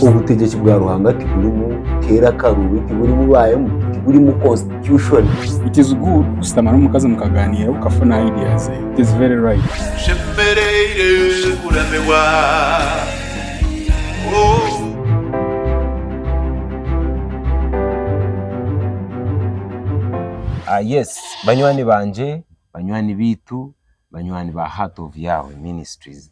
Obutegyeki bwa Ruhanga tiburimu keera akaruubi, tiburimu baayemu, tiburimu constitution. It is good kushutama n'omukazi mukagaaniira okafuna idea ze. It is very right. Nshemereire kuramirwa oh. Ah yes, banywani bangye, banywani baitu, banywani ba Heart of Yahweh Ministries,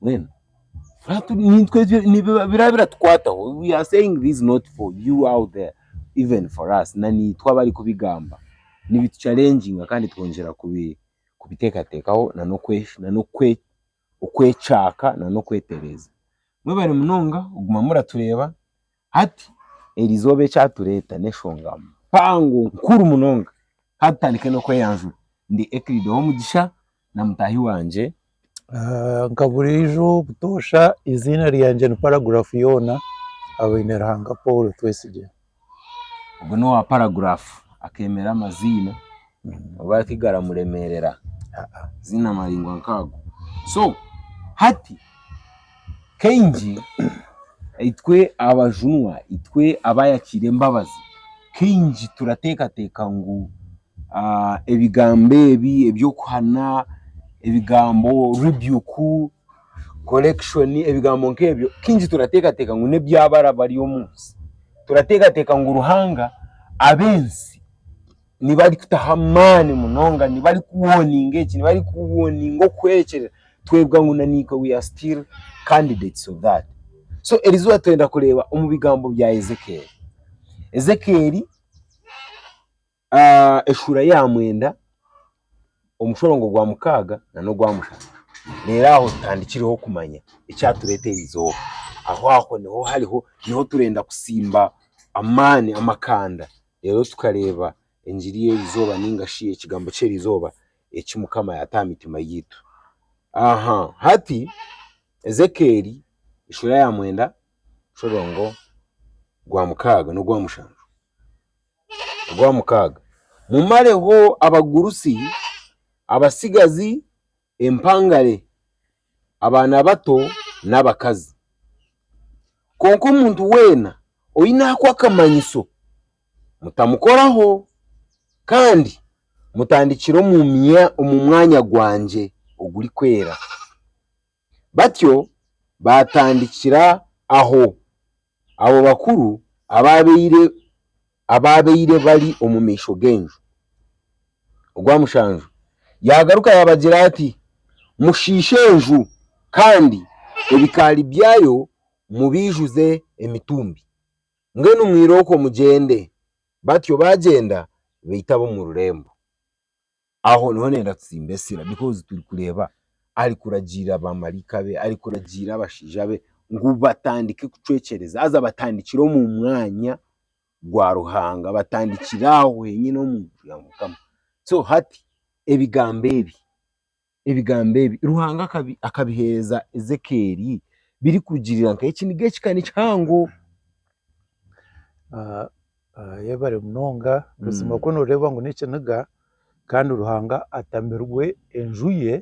Mbwenu hati nitwe ebyo- nibiba- biraba biratukwataho we are saying this not for you out there even for us na naitwe abari kubigamba nibitu challenginga kandi twongyera kubi kubitekatekaho na n'okwe na n'okwe okwekyaka na n'okwetereza mwebare munonga kuguma muratureeba Hati eri izooba eki aritureeta n'enshonga mpango nkuru munonga. Ka tutandike n'okweyanjura. Ndi Euclid Owomugisha na mutaahi wangye. Nka buriijo butoosha, eiziina ryangye ni paragurafu yoona aha Baineruhanga Paul Twesigye. Ogwo n'owa paragurafu akeemera amaziina. oba hati garamuremeerera ziine amaringo nk'ago. So hati kaingi itwe abajunwa, itwe abaayakiire embabazi, kaingi turateekateeka ngu ebigambo ebi eby'okuhana, ebigambo rebuke, correction, ebigambo nk'ebyo kaingi turateekateeka ngu n'eby'abaana bari omu nsi. Turateekateeka ngu Ruhanga ab'ensi. nibarikutaho amaani munonga, nibarikuwoninga eki, nibarikuwoninga okuhwerekyerera, twebwa ngu na naitwe we are still candidates of that. So erizooba twenda kureeba omu bigambo bya Ezekiel. Ezekiel eshuura ya mwenda, omushorongo gwa mukaaga na n'ogwa mushanju. Reero aho tutandikireho kumanya ekyatureeta erizooba. Aho aho niho hariho, niho turenda kusimba amaani, amakanda. reero tukareeba engiri y'eri izooba nainga shi ekigambo ky'eri izooba eki Mukama yaata aha mitima yaitu. Hati Ezekieli sura ya mwenda muringo gwa mukaaga n'ogwa mushanju. Ogwa mukaaga, Mumareho abagurusi, abatsigazi empangare, abaana bato n'abakazi. Kwonka omuntu weena oine aku akamanyiso, mutamukoraho kandi mutandikire omu mwanya gwangye ogurikwera. Batyo baatandikira aho. Abo bakuru abaabaire abaabaire bari omu maisho g'enju. Ogwa mushanju yaagaruka yaabagira ati, Mushiishe enju, kandi ebikaari byayo mubiijuze emitumbi. Mbwenu mwirooko mugyende. Batyo baagyenda baita ab'omu rurembo. Aho niho nenda kusimba esira because turi kureeba ari kuragiirira bamaraika be, ari kuragiirira abashaija be ngu batandike kucwecereza haza batandikire omu mwanya gwa Ruhanga, batandikire aho henyine omu nju ya Mukama. So hati ebigambo ebi, ebigambo ebi Ruhanga akabi akabihereza Ezekeeli biri kurugiirira nkahe? Eki niga ekikani kihango. Yebare munonga buzima ku noreeba ngu nekiniga kandi ruhanga atamirwe enju ye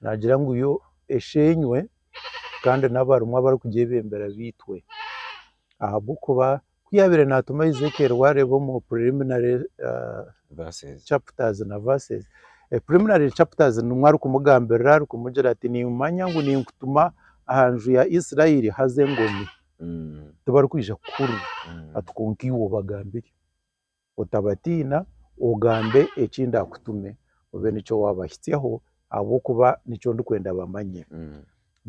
nagira ngu yo eshenywe kandi nabarimu abarikugyebembera beitwe ahabwokuba ku yabaire natuma Ezekiel wareeba omu preliminary chapters na verses preliminary chapters nimwo arikumugambirira arikumugira ati nimanya ngu ninkutuma aha nju ya Israel haza engomi. Mm, tibarikwija kukuhurira mm. ati kwonka iwe obagambire otabatiina ogambe eki ndaakutume obe nikyo waabahitsyaho ahabw'okuba nikyo ndikwenda bamanye Mm.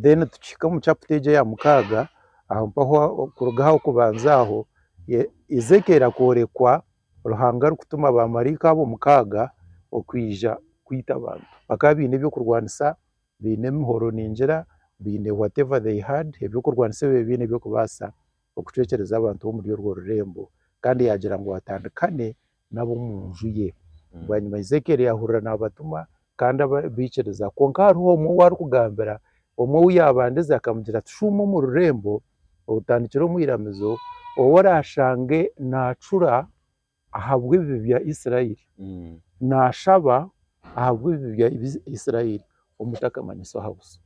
then tukihika omu chapter egyo eya mukaaga aho mpaho aho kuruga aha okubanza aho e- Ezekiel akoorekwa Ruhanga arikutuma baamaraika abo mukaaga okwija kwita abantu bakaba baine ebyokurwanisa baine emihoro ningira baine whatever they had ebyokurwanisa ebi baine ebyokubaasa okucwekyereza abantu bomuri orwo rurembo kandi yaagira ngu atandikane nabomunju ye. Bwanyima Ezekiel yaahurira naabatuma kandi baikiriza kwonka hariho omwe ou arikugambira omwe ou yaabandize akamugira ati shuuma omu rurembo otandikire omu iramizo ou oraashange naacura ahabw'ebibi bya Israeli, nashaba ahabw'ebibi bya Israeli omutakamanyisa oha buso.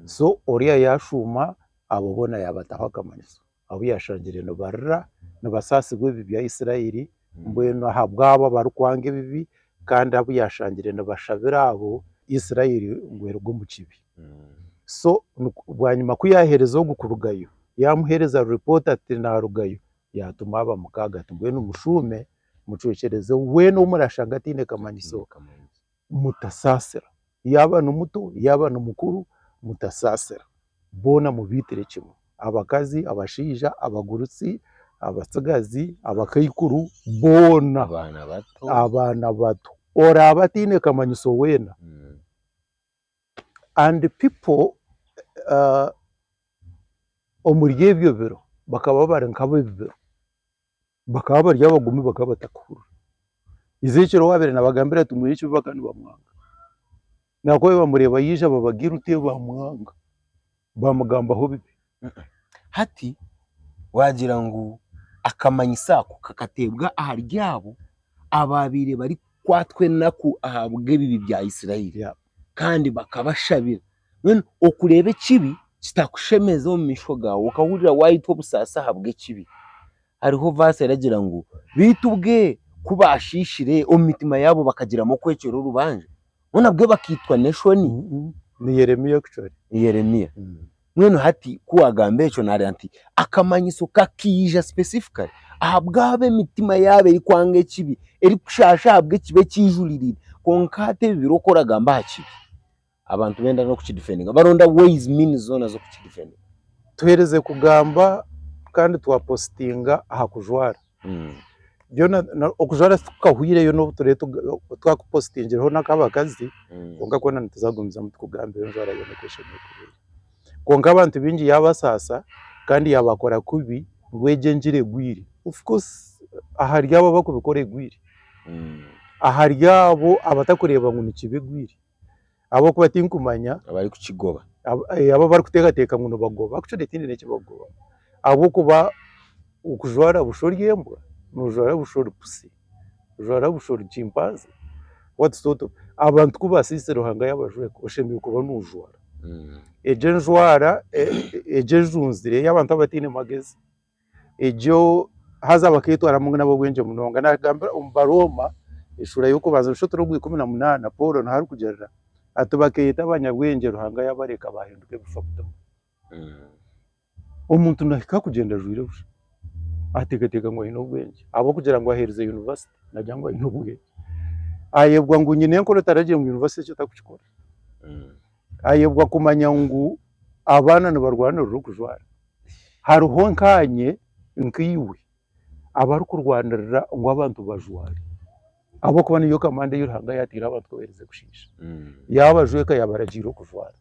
So oriya yashuma abo bona yabataho akamanyiso abu yashangire nibarira, nibasasirwa ebibi bya Israeli, mbwenu ahabwabo abarikwanga ebibi kandi abu yashangire nibashabira abo Israeli ngu eruge omu kibi. So bwanyima ku yahereza ogu kurugayo, yamuhereza report ati narugayo, yaatuma aba mukaaga ati, Mbwenu mushuume, mucwekyereze weena ou muraashanga ataine kamanyiso, mutasaasira. Yaaba ni muto, yaaba ni mukuru, mutasaasira. Boona mubaitire kimwe, abakazi, abashaija, abagurusi, abatsigazi, abakaikuru, boona, abaana bato, oraabe ataine kamanyiso weena. and pipo omuri ebyo biro bakaba bari nk'abebi biro, bakaba bari abagome bakaba batakuhurira, Ezekiel owu abaire nabagambira ati mwine ekibi bakaba nibamwanga, nahabw'okuba babaire nibamureeba yaija babagira oti bamwanga. baamugambaho bibi. Hati waagira ngu akamanyiso ako kakateebwa ahari abo abaabaire barikukwatwa enaku ahabw'ebibi bya Isiraeli Yeah. kandi bakabashabira. Mbwenu okureeba ekibi kitakushemeza omu maisho gaawe, okahurira waayetwa obusaasi ahabw'ekibi, Hariho vaasi eragira ngu, Beitu ubwe ku baashiishire, omu mitima yaabo bakagiramu okwecwera orubanja, bo nabwe bakaitwa n'eshoni. Ni Yeremia actually. Ni Yeremia. Mbwenu hati ku waagamba ekyo naareeba nti akamanyiso kakaija specifically ahabw'abo emitima yaabo erikwanga ekibi, erikushaasha ahabw'ekibi eki eijuririre. Kwonka hati ebi biri oku oragamba aha kibi. abantu benda nokukidefendinga baronda ways means zoona zokukidefendinga. Tuhereze kugamba kandi twa postinga aha kujwara byona okujwara titukahwireyo nobu turee twakupostingireho nakabakazi kwonka kwona nituzagumizamu tukugambe enjwara yoona oku eshemereire kuba eri kwonka abantu bingi yabasaasa kandi yabakora kubi ngu egyo engira egwire of course ahari abo abakubikora egwire ahari abo abatakureeba ngu nikibi egwire. ahabw'okuba tinkumanya abarikukigoba ab- eh, abo abarikuteekateeka ngu nibagoba actually tihaine n'eki bakugoba ahabw'okuba okujwara busha ori embwa noojwara busha ori pusi ojwara busha ori chimpanze what sort of abantu ku baasiise Ruhanga yaabajweka oshemereire kuba noojwara egyo enjwara e- egyo ejunzire ey'abantu abataine magezi egyo haza baketwaramu ngu nab'obwengye munonga. Nagambira omu Barooma eshuura y'okubanza nosha turi ogwa ikumi na munaana Paul niho arikugyerera ati bakeyeta abanyabwengye Ruhanga yabareka bahinduka ebifa butomu. Omuntu nahika kugyenda ajwaire busha atekateka ngu aine obwengye ahabw'okugira ngu ahereza yunivasite nagira ngu aine obwengye. Ayebwa ngu nyine enkora otaragiire ngu yunivasite ekyo takukikora. Ayebwa kumanya ngu abaana nibarwanirira okujwara. hariho nkaanye nkaiwe abarikurwanirira ngu abantu bajware ahabw'okuba niyo kamanda ei Ruhanga yateire abantu ku baheereze kushiisha. Yaabajweka yaabaragiira okujwara.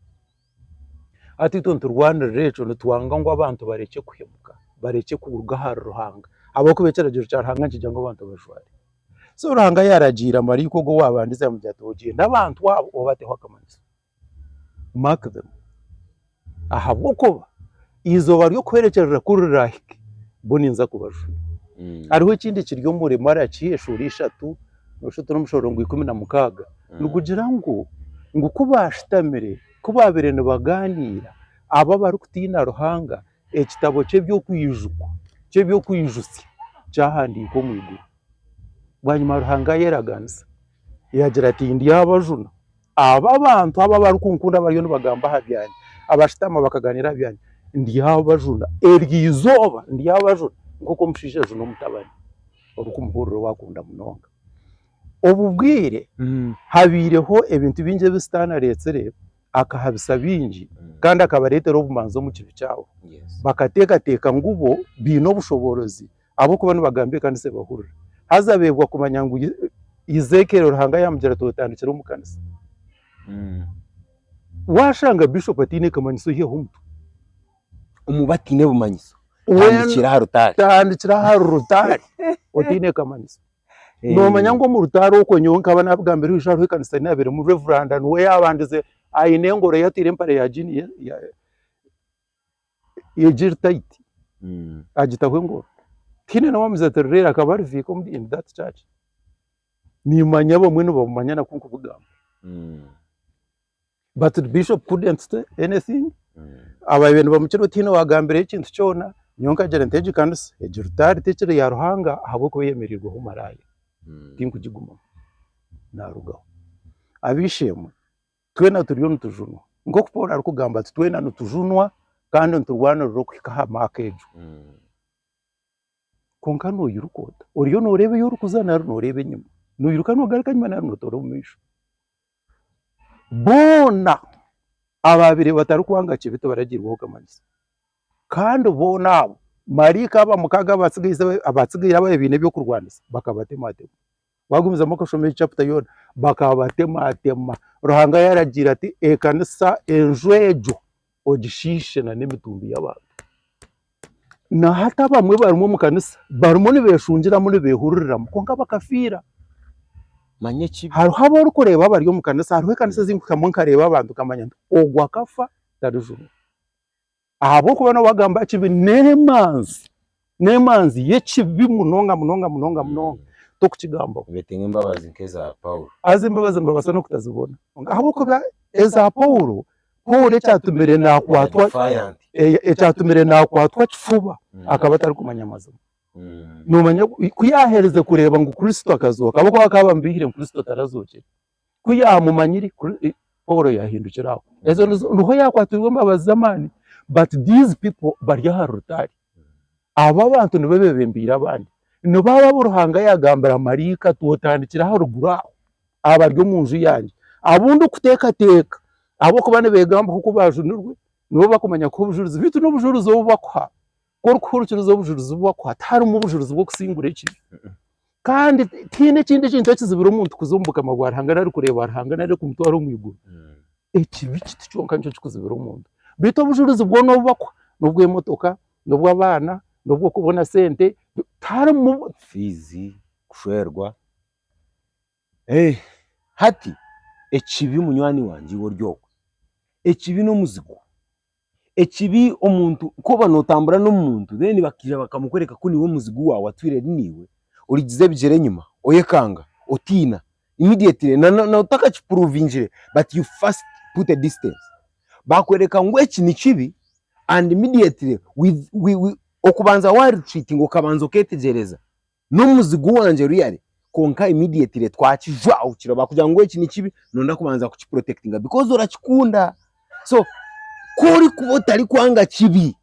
Hati itwe niturwanirira ekyo nitwanga ngu abantu barekye kuhemuka, barekye kuruga ahari Ruhanga ahabw'okuba ekiragiiro kya Ruhanga nikigira ngu abantu bajware. So Ruhanga yaaragiira maraika ogwo waabandize yaamugira ati, ogyende abantu abo obateho akamanyiso. mark them, ahabw'okuba eizooba ry'okuhwerekyerera ku riraahike, bo ninza kubajuna. Hariho ekindi kiri omuri Malaki eshuura ishatu nosha otari omushoro gwa ikumi na mukaaga nigugira ngu, ngu ku baashutamire, ku baabaire nibagaaniira, abo abarikutiina Ruhanga, ekitabo ky'eby'okwijukwa, ky'eby'okwijutsya kyahandiikwa omu iguru. Bwanyima Ruhanga yaaraganisa yaagira ati, Ndyabajuna abo abantu abo abarikunkunda abariyo nibagamba aha byangye, abashutama bakagaaniira aha byangye, ndyabajuna eryo izooba, ndyabajuna nk'oku omushaija ajuna omutabani orikumuhurira ou akunda munonga. Obu bwire habaireho ebintu bingi ebi sitaane areetsire, akahabisa baingi kandi akabareetera obumanzi omu kibi kyabo. Bakateekateeka ngu bo baine obushoboorozi Ahabw'okuba nibagamba ekanisa ebahurira. Haza abeebwa kumanya ngu Ezekiel Ruhanga yaamugira ati otandikire omu kanisa. Waashanga Bishop ataine kamanyiso hihaho omutwe. Omu bataine bumanyiso, tandikira aha rutaari. Tandikira aha rutaari otaine kamanyiso. Noomanya ngu omu rutaari okwo nyowe nkaba naabigambira oiju hariho ekanisa ei naabeiremu, Rev. Niwe yaabandize aine engoro ei ataire empare ya jiini egiri tayiti agitaho engoro tihaine nomu amuziire ati reero akaba ari viika omuri in that church nimanya abamwe nibamumanya naku nkubugamba but bishop couldn't say anything ababire nibamukira tihaine owagambireyo ekintu kyona nyowe nkagira nti egi kanisa egi rutaari tekiri ya Ruhanga ahabw'okuba eyemereirweho maraaya tinkugigumamu narugaho ab'eishe-emwe. Twena turiyo nitujunwa. Nk'oku Paul arikugamba ati, twena nitujunwa kandi niturwanirira okuhika aha maaka egyo. Kwonka noyiruka ota? Oriyo noreeba eyi orikuza nari noreeba enyima? Noyiruka nogaruka enyima nari notoora omu maisho? Boona ababire batarikwanga kibi tibaragirweho okamanyisa. Kandi boona abo, maraika aba mukaaga abatsigaire ababaire baine ebyokurwanisa bakabatematema. Waagumizamu okashoma egi chapita yoona, bakaabatematema. Ruhanga yaaragiire ati ekanisa enju egyo ogishiishe n'emitumbi y'abantu. Nahati abamwe barimu omu kanisa barimu nibeeshungiramu nibeehururiramu kwonka bakafiira. Manya ekibi. Hariho abu orikureeba abari omu kanisa, hariho ekanisa ezi ndikuhikamu nkareeba abantu nkamanya ngu ogu akafa tarijumirwe. ahabw'okuba nawe agamba ekibi n'emanzi n'emanzi y'ekibi munonga munonga munonga munonga tokukigambaho. Betenga embabazi nk'eza Paulo. Haza embabazi nibabaasa n'okutazibona. Kwonka ahabw'okuba eza Paulo, Paulo ekyatumire naakwatwa Defiant. eh, ekyatumire naakwatwa kifuba Mm. akaba atarikumanya mazima. Mm. Noomanya ku ku yaaherize kureeba ngu Kristo akazooka, ahabw'okuba bakaba bamubiihire ngu Kristo tarazookire. Ku yaamumanyire, Paul yaahindukire aho. Ezo nizo, niho yaakwatirwe embabazi z'amaani. But these people bari aha rutaari. Abo abantu nibo bebembeire abandi. Nibo abo abu Ruhanga yaagambira maraika ati otandikire aha ruguru aho, abari omu nju yangye, abu ndikuteekateeka ahabw'okuba nibeegambaho ku baajunirwe, nibo bakumanya kuha obujurizi, beitu n'obujurizi obu bakuha, Ku orikuhurikiriza obujurizi obu bakuha tiharimu bujurizi bw'okusingura ekibi. Kandi tihaine ekindi kintu ekizibira omuntu kuza omu bukama bwa Ruhanga nari kureeba Ruhanga nari kumutwara omu iguru. Ekibi kiti kyonka nikyo kikuzibira omuntu. Beitu obujurizi bwoona obu bakuha n'obw'emotoka, n'obw'abaana, n'obw'okubona sente, tiharimu. Fiizi, kushwerwa. Hati, ekibi, munywani wangye, iwe ori okwe, ekibi n'omuzigu. Ekibi, omuntu ku oba nootambura n'omuntu then bakaija bakamukworeka ku niiwe muzigu waawe atwire ari naiwe, oriigiza ebigyere enyima, oyekanga, otiina immediately na n'otakakipuruvingire but you first put a distance. Baakworeka ngu eki ni kibi and immediately with with okubanza waarichwitinga okabanza okeetegyereza. n'omuzigu wangye ruyari kwonka immediately twakijwa okukira bakugira ngu eki nikibi nonda kubanza kukiprotectinga because orakikunda so korikuba otarikwanga kibi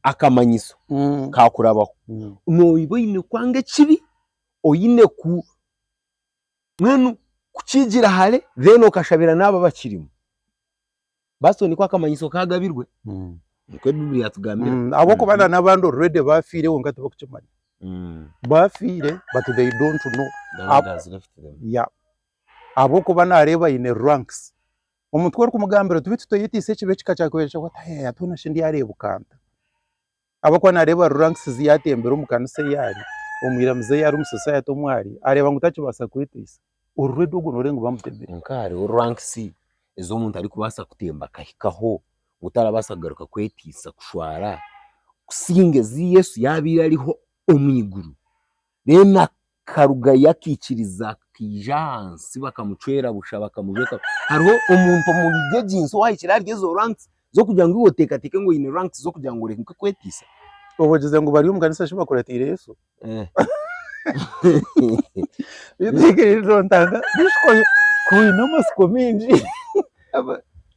akamanyiso Mm. kakurabaho Mm. noba oyine kwanga ekibi oyine ku mbwenu kukigira hare then okashabira naabo abakirimu. Basito niko akamanyiso kaagabirwe, Mm. nikwo Baibuli yaatugambira. Mm, ahabw'okuba na n'abandi already baafiire kwonka tibakukimanya. Mm. Baafiire but they don't know. The Lord has left them. Yeah. Ahabw'okuba naareeba aine ranks. Omuntu ku orikumugambira oti beitu toyetiisa ekibi ekikakira kureebeka oti, "Hey, hati hoona shi ndyareebuka nta?" ahabw'okuba naareeba ari rankisizi yaatembera omu kanisa ei ari, omwiramizi ei ari, omu society omu ari, areeba ngu takibaasa kweteisa, ori ready ogwo nooreeba ngu bamutemire. Kwonka hariho rankisi ezi omuntu arikubaasa kutemba akahikaho, ngu tarabaasa kugaruka kweteisa kushwara, kusinga ezi Yesu yaabaire ariho omu iguru. Reero akarugayo akaikiriza akaija ahansi bakamucwera busha bakamujweka. Hariho omuntu omuri egi nsi owahikire ahari ezo ranks z'okugira ngu iwe oteekateeke ngu oine ranks z'okugira ngu oreke kweteisa? Oba ogize ngu bari omu kanisa shi bakuratiire Yesu? Beitu hikirizire otaaga disiko ku oine amatsiko maingi.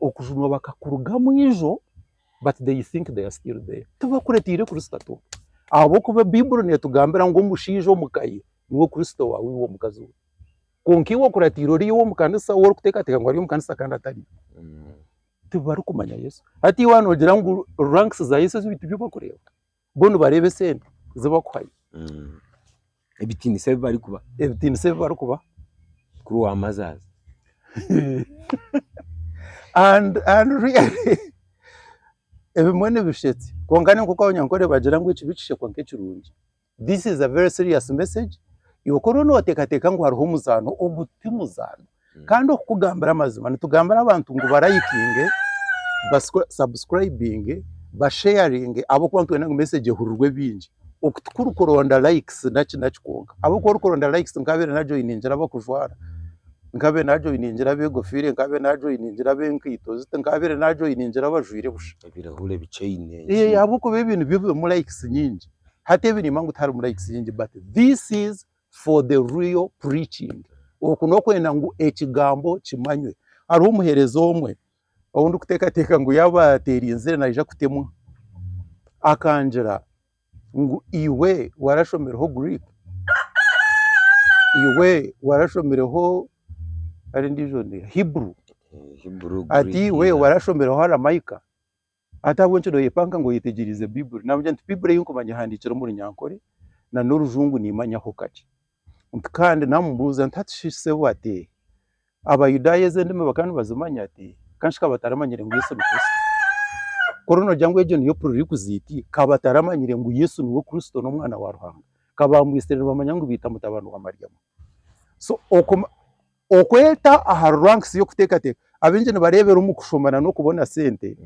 okujunwa bakakurugamu ijo but they think they are still there tibakuretiire kurisita tu ahabw'okuba baiburi netugambira ngu omushaija omu ka ye niwe kurisita owaawe iwe omukazi we kwonka iwe okuratiire ori ow'omu kanisa ou orikuteekateeka ngu ari omu kanisa kandi atari tibarikumanya Yesu hati iwe noogira ngu rankisi za Yesu ezi baitu byo barikureeba. bo nibareeba esente ezi bakuhayo Mm. ebitiinisa ebi barikuba ebitiinisa ebi barikubaha kuri waamazaazi and and really ebimwe nibishetse kwonka ni nk'oku abanyankore bagira ngu ekibi kishekwa nk'ekirungi this is a very serious message iwe ku oriyo nooteekateeka ngu hariho omuzaano ogu ti muzaano Kandi okukugambira amazima nitugambira abantu ngu barayikinge, basabusikurayibinge, basheyaringe ahabw'okuba nitwenda ngu mesegi ehurirwe baingi. Oku tikurikuronda layikisi naki naki kwonka ahabw'okuba orikuronda layikisi nk'abaabaire najoyiningira abakujwara, nk'abaabaire najoyiningira abeegofiire, nk'abaabaire najoyiningira ab'enkaito ziti, nk'abaabaire najoyiningira abajwaire busha. Ebirahure bikyaine enki. Eeh ahabw'okuba ebi nibyo birimu layikisi nyingi. Hati ebi nimba ngu tiharimu layikisi nyingi bati, this is. for the real preaching oku n'okwenda ngu ekigambo kimanywe. Hariho omuheereza omwe ou ndikuteekateeka ngu yaaba ateerinzire naija kutemwa, akangira ngu iwe warashomireho Greek? Iwe warashomireho Hebrew? Ati iwe warashomireho Aramaika? Hati ahabw'enki nooyepanka ngu oyetegyereze Baibuli? Naamugira nti, Baibuli ei nkumanya ehandiikirwe omu Runyankore na n'Orujungu niimanyaho kakye. Nti kandi naamubuuza nti, Hati shi sebo ati Abayudaaya ezi endimi bakaba nibazimanya? Ati kanshi ka bataramanyire ngu Yesu ni Kristo? Ku ori noogira ngu egyo niyo pururikuziiti, ka bataramanyire ngu Yesu niwe Kristo n'Omwana wa Ruhanga? Ka baamwitsire nibamanya ngu baita mutabani wa Mariamu? So, okwo Okweta aha ranks y'okuteekateeka, abaingi nibareebera omu kushoma na n'okubona sente.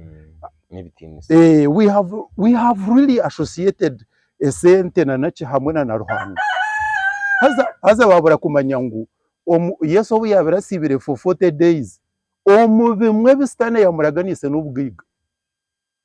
N'ebitiinisa. Eeh, we have, we have really associated esente na naki hamwe na na Ruhanga. Haza, haza waabura kumanya ngu omu, Yesu obu yaabire asiibire for 40 days, omu bimwe ebi sitaane yaamuraganiise n'obugaiga.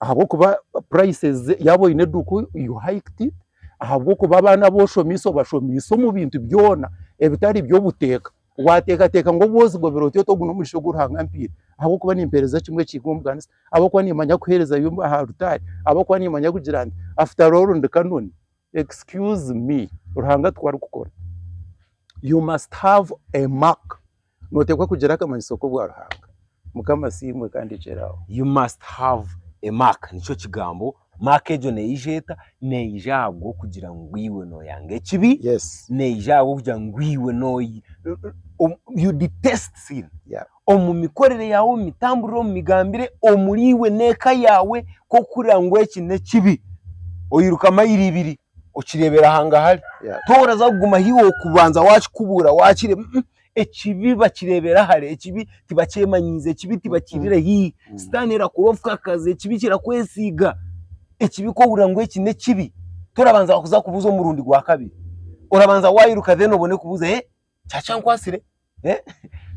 ahabw'okuba purayiseezi yaaba oine eduuka you hiked it, ahabw'okuba abaana abu oshomiise obashomiise omu bintu byona ebitari by'obuteeka, waateekateeka ngu obwozigobera oti oti ogu n'omugisha ogu Ruhanga ampaire ahabw'okuba nimpeereza kimwe ekihiga omu kanisa, ahabw'okuba niimanya kuheereza aha rutaari, ahabw'okuba niimanya kugira nti after all ndi Canon. Excuse me Ruhanga tikwo arikukora. You must have a mark. Noteekwa kugira akamanyiso k'obwa Ruhanga. Mukama asiimwe kandi ekyere aho. You must have a mark nikyo kigambo. Mark egyo neija eta? Neija ahabw'okugira ngu iwe noyanga ekibi. Yes. Neija ahabw'okugira ngu iwe no, you detest sin. Yeah. omu mikorere yaawe, omu mitamburire, omu migambire omuriiwe n'eka yaawe ku orikuhurira ngu eki n'ekibi oyiruka mayiro ibiri okireebera hangahari toraza kuguma ahu iwe okubanza wakikubuura wakireba ekibi bakireebera hare, ekibi tibakyemanyiize, ekibi tibakiirire haihi, sitaane erakora obukakazi, ekibi kirakwesiiga, ekibi ku ohurira ngu eki n'ekibi torabanza kuza kubuuza omurundi gwa kabiri, orabanza wayiruka then obone kubuuza. kyakyankwatsire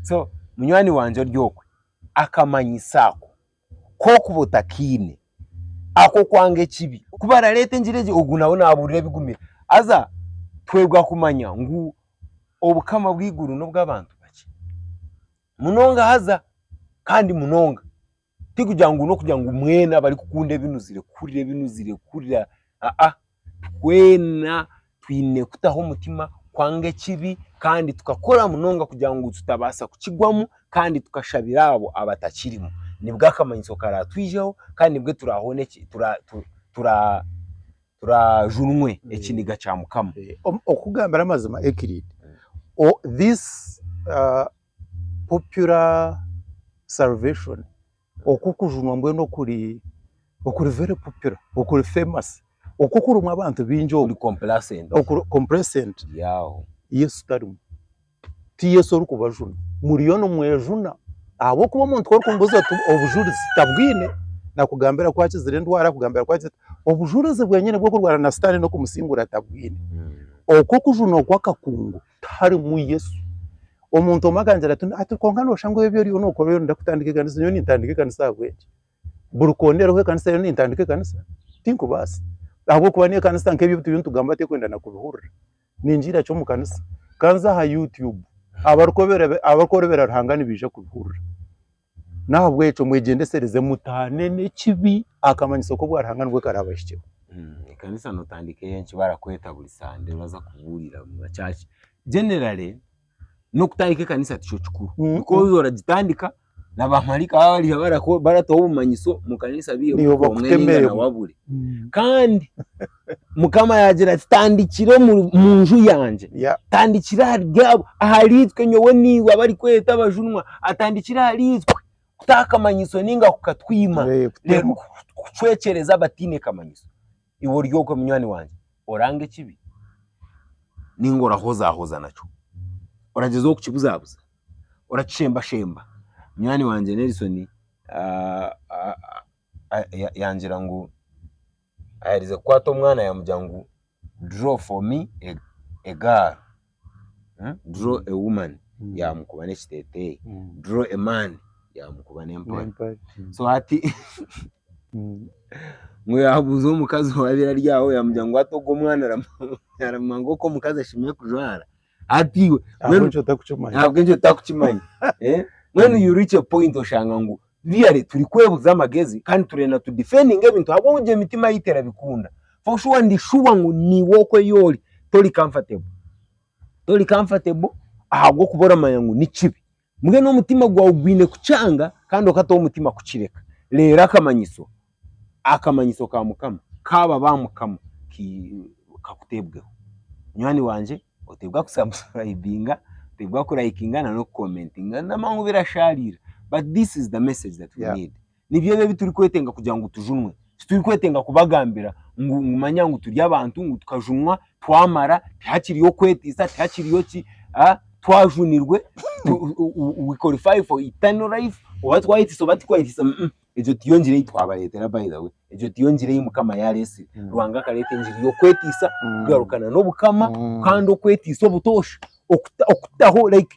so munywani wangye ori okwe akamanyisa ako kokuba otakaine akokwanga ekibi kubarareeta engira egi ogu nawe naburira ebigumire haza twebwa kumanya ngu obukama bweiguru nobwabantu bakye munonga haza kandi munonga Tikugira ngu n'okugira ngu mwena abarikukunda ebinuzire kuhurira ebinuzire kuhurira aa twena twine kutaho omutima kwanga ekibi kandi tukakora munonga kugira ngu tutabaasa kukigwamu kandi tukashabira abo abatakirimu nibwo akamanyiso karatwijeho kandi nibwo turahone turajunwe ekiniga kya mukama. Okukugambira amazima Euclid this popular salvation, okwo okujunwa mbwenu okuri okuri very popular, okuri famous, okwo okurimu abantu bingi okwo, okuri complacent, okuri complacent, yaawe. Yesu tarimu, ti Yesu orikubajuna, muriyo nimwejuna ahabw'okuba omuntu ku orikumubuuza oti obujurizi tabwine, naakugambira ku akizire endwara, naakugambira ku akizire, obujurizi bwenyine bw'okurwana na sitaane n'okumusiingura tabwine, okwo okujunwa okw'akakungu. tiharimu Yesu. Omuntu omwe akangira ati, ati kwonka noshusha ngu ebi oriyo nokora oriyo noyenda kutandika ekanisa, nyowe nintandika ekanisa ahabw'enki? Buri koona eriho ekanisa nyowe nintandika ekanisa? Tinkubaasa. Ahabw'okuba n'ekanisa nk'ebi ebi turiyo nitugamba terikwenda na kubihurira. Ningira ki omu kanisa? Ka nze aha Youtube, abarikworobera Ruhanga nibaija kubihurira. N'ahabw'ekyo mwegyendesereze mutaane n'ekibi, akamanyiso k'obwa Ruhanga nibwo karaabahikyeho. Ekanisa nootandika eyo nki barakweta buri sande oraza kubuurira omu ma church. Generally, n'okutandika ekanisa tikyo kikuru. Mm. Nikwo orikuza oragitandika, na baamaraika baaba bariho barako- baratuha obumanyiso mu kanisa biihemu Niho kwonka bakutemeremu. enaingana wabure. Kandi Mukama yaagira ati, Tandikira omu nju yangye, tandikira ahari itwe nyowe naiwe abarikweta abajunwa, atandikira ahari itwe kutaha akamanyiso ninga kukatwima, kucwekyereza abataine kamanyiso. Iwe ori okwe munywani wangye, oranga ekibi ninga orahozaahoza nakyo? Oragyezaho kukibuzaabuza? Orakishembashemba? Munywani wangye Nelson yangira ngu Ayaherize kukwata omwana yamugira ngu draw for me a girl, draw a woman yamukuba n'ekiteteeyi, draw a man yamukuba n'empare. So hati ngu yaabuuza omukazi owaabaire ari aho yaamugira ngu hati ogwo omwana aramanya nk'oku omukazi ashemeriire kujwara. Hati iwe mbwenu ahabw'ekyo otakukimanya ntabwo ekyo tutakukimanya Eh? mbwenu you reach a point oshanga ngu really turi kwebuza amagezi kandi turenda tu defending ebintu ahabw'obu gye mitima yitu erabikunda for sure ndi sure ngu niiwe okweyori tori comfortable tori comfortable ahabw'okuba oramanya ngu nikibi Mbwenu omutima gwawe gwine kukyanga kandi okata omutima kukireka. Reero akamanyiso, akamanyiso ka Mukama kaaba ba Mukama kakuteebweho. Munywani wangye oteebwa kusubscribinga, oteebwa kurayikinga na n'okukomentinga n'amangu birashaariira but this is the message that we need. Nibyo ebi ebiturikwetenga kugira ngu tujunwe. Titurikwetenga kubagambira ngu ngu manya ngu turi abantu ngu tukajunwa twamara tihakiriyo kwetiisa tihakiriyo ki a twajunirwe tu- u- u- u- we qualify for eternal life oba twayetiisa oba tikwayetiisa umm egyo tiyo ngira ei twabareetera by the way egyo tiyo ngira ei Mukama yaareetsire. Ruhanga akareeta engiri y'okwetiisa kugarukana n'Obukama kandi okwetiisa obutoosha okuta okutaho like.